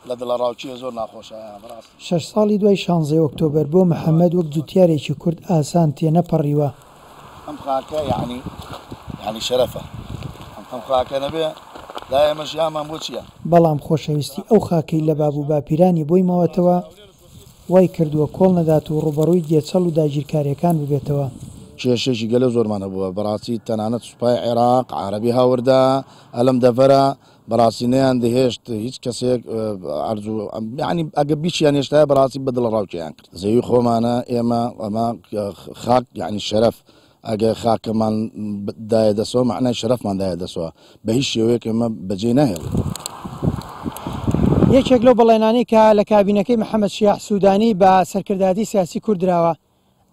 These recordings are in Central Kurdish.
لە دڵە ڕاوچیە زۆر ناخۆشە بەڕاست. شەش ساڵی دوای شانزەی ئۆکتۆبەر بۆ محمد وەک جوتیارێکی کورد ئاسان تێنەپەڕیوە. ئەم خاکە یەعنی یەعنی شەرەفە ئەم خاکە نەبێ لای ئێمە ژیانمان بۆ چیە؟ بەڵام خۆشەویستی ئەو خاکەی لە باب و باپیرانی بۆی ماوەتەوە وای کردووە کۆڵ نەدات و ڕووبەڕووی گێچەڵ و داگیرکارێکان ببێتەوە. کێشەیەکی گەلە زۆرمان هەبووە بەڕاستی تەنانەت سوپای عێراق عارەبی هاوردە ئەلەم دەڤەرە بەڕاستی نەیان دەهێشت هیچ کەسێک عرض و یعنی ئەگە بیشیان هێشتای بەڕاستی بە دڵ ڕاوکیان کرد زەوی خۆمانە ئێمە ئەمە خاک یعنی شەرف ئەگە خاکەمان دایە دەسەوە معنای شەرفمان دایە دەسەوە بە هیچ شێوەیەک ئەمە بەجێ ناهێڵ. یەکێک لەو بەڵێنانەی کە لە کابینەکەی محەمەد شیاع سوودانی بە سەرکردایەتی سیاسی کورد دراوە،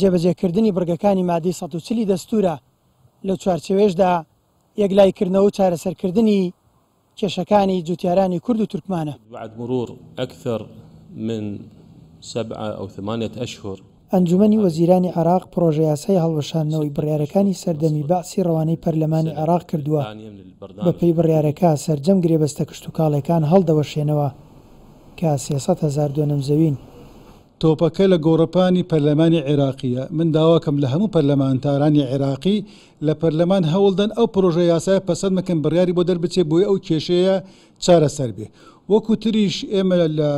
جێبەجێکردنی بڕگەکانی مادەی سەد و چل ی دەستوورە، لەو چوارچێوەیەشدا یەکلاییکردنەوە و چارەسەرکردنی کێشەکانی جوتیارانی کورد و تورکمانە. بعد مرور اکثر من سبعە او ثمانیە اشهر. ئەنجومەنی وەزیرانی عێراق پڕۆژەیاسای هەڵوەشاندنەوەی بڕیارەکانی سەردەمی بەعسی ڕەوانەی پەرلەمانی عێراق کردووە، بەپێی بڕیارەکە سەرجەم گرێبەستە کشتوکاڵێکان هەڵدەوەشێنەوە کە سێ سەد هەزار دۆنم زەوین. تۆپەکە لە گۆڕەپانی پەرلەمانی عێراقییە، من داواکەم لە هەموو پەرلەمانتارانی عێراقی لە پەرلەمان هەوڵدەن ئەو پرۆژە یاسایە پەسەند بکەن بڕیاری بۆ دەربچێت بۆی ئەو کێشەیە چارەسەر بێت وەکو تریش ئێمە لە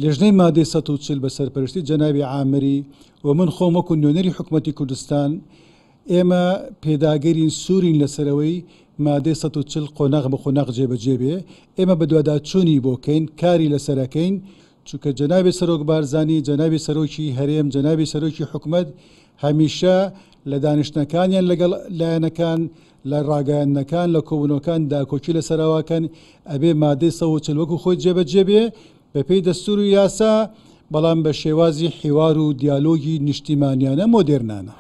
لێژنەی مادەی سەد و چل بە سەرپەرشتی جەنابی عامری و من خۆم وەکو نوێنەری حکوومەتی کوردستان ئێمە پێداگەرین سوورین لەسەرەوەی مادەی سەد و چل قۆناغ بە قۆناغ جێبەجێ بێ ئێمە بەدواداچوونی بۆکەین کاری لەسەرەکەین چونکە جەنابی سەرۆک بارزانی، جەنابی سەرۆکی هەرێم، جەنابی سەرۆکی حکومەت هەمیشە لە دانیشتنەکانیان لەگەڵ لایەنەکان، لە ڕاگەیاندنەکان، لە کۆبوونەوەکان داکۆکی لەسەر ئەوەکەن ئەبێ مادەی سەد و چل وەکو خۆی جێبەجێ بێ بەپێی دەستور و یاسا، بەڵام بە شێوازی حیوار و دیالۆگی نیشتیمانیانە مۆدێرنانە.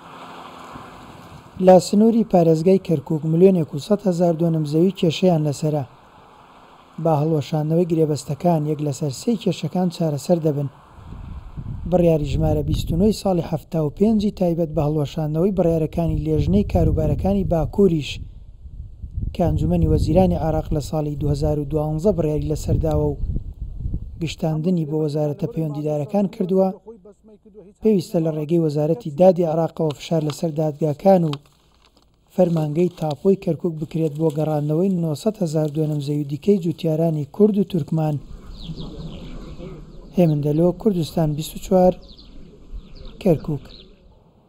لە سنووری پارێزگای کەرکووک ملیۆنێک و سەد هەزار دۆنم زەوی کێشەیان لەسەرە. بە هەڵوەشاندنەوەی گرێبەستەکان یەک لەسەر سێی کێشەکان چارەسەر دەبن. بڕیاری ژمارە بیست و نۆ ی ساڵی حەفتا و پێنج ی تایبەت بە هەڵوەشاندنەوەی بڕیارەکانی لێژنەی کاروبارەکانی باکووریش کە ئەنجومەنی وەزیرانی عێراق لە ساڵی دوو هەزار و دوازدە بڕیاری لەسەر داوە و گشتاندنی بۆ وەزارەتە پەیوەندیدارەکان کردووە، پێویستە لە ڕێگەی وەزارەتی دادی عێراقەوە فشار لەسەر دادگاکان و فەرمانگەی تاپۆی کەرکوک بکرێت بۆ گەڕاندنەوەی نۆ سەد هەزار دۆنم زەوی دیکەی جوتیارانی کورد و تورکمان هێمن دەلۆ، کوردستان بیست و چوار، کەرکوک.